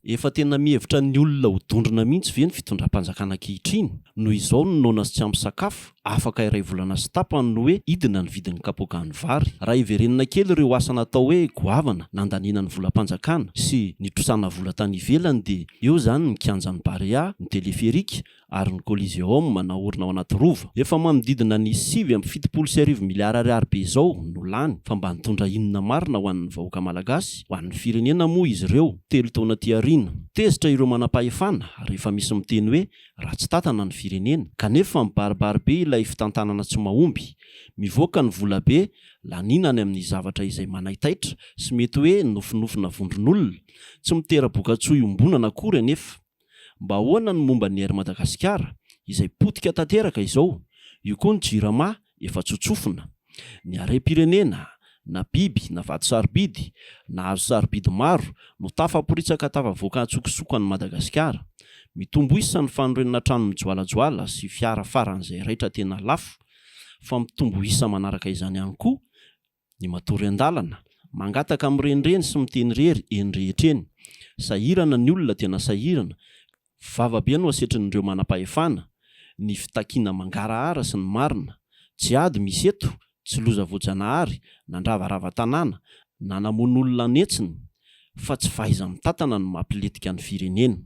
Efa tena mihevitra ny olona ho dondrona mihitsy ve ny fitondram-panjakana ankehitriny? Noho izao ny noana sy tsy ampy sakafo, afaka iray volana sy tapany no hoe hidina ny vidin'ny kapoakan'ny vary. Raha hiverenana kely ireo asa natao hoe goavana nandaniana ny volam-panjakana sy nitrosana vola tany ivelany dia eo izany ny kianjan'ny Barea, ny teleferika, ary ny Coliseum naorina ao anaty rova. Efa manodidina ny sivy amby fitopolo sy arivo miliara ariary be izao no lany, fa mba nitondra inona marina ho an'ny vahoaka malagasy, ho an'ny firenena moa izy ireo? Telo taona aty aoriana, tezitra ireo manam-pahefana ary efa misy miteny hoe ratsy tàtana ny firenena, kanefa mibaribary be ilay fitantanana tsy mahomby, mivoaka ny vola be laniana any amin'ny zavatra izay manaitaitra sy mety hoe nofinofina vondron'olona, tsy mitera-bokatsoa iombonana akory anefa. Mba ahoana ny momba ny Air Madagasikara izay potika tanteraka izao, io koa ny Jirama efa tsotsofina. Ny harem-pirenena, na biby na vato sarobidy, na hazo sarobidy maro no tafaporitsaka tafavoaka an-tsokosoko an'i Madagasikara. Mitombo isa ny fanorenana trano mijoalajoala sy fiara faran'izay raitra tena lafo, fa mitombo isa manaraka izany ihany koa Ny matory an-dalana, mangataka mirenireny sy miteny irery eny rehetra eny. Sahirana ny olona, tena sahirana. Vava be no asetrin'ireo manam-pahefana, ny fitakiana mangarahara sy ny marina. Jihad misy eto, tsy loza voajanahary, nandravarava tanàna, nanamono olona an'hetsiny, fa tsy fahaiza-mitantana no mampilentika ny firenena.